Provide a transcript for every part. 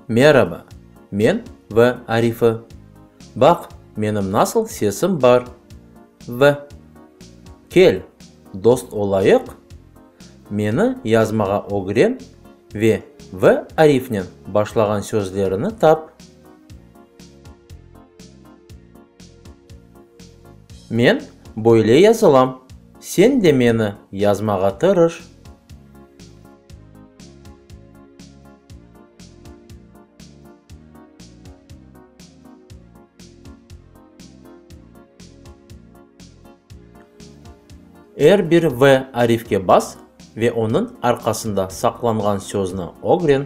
Meraba, men V. Arifi. Baq, menim nasıl sesim bar. V. Kel, dost olayıq. Meni yazmağa ögren ve V. Arifnen başlağan sözlerini tap. Men böyle yazılam, sen de meni yazmağa tırış. Er bir V arifke bas ve onıñ arqasında saqlanğan sözni ögren.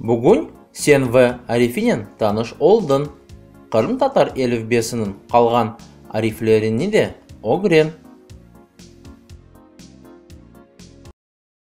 Bugün sen ve arifinen tanış oldın. Qırımtatar elifbesiniñ qalğan ariflerini de ögren.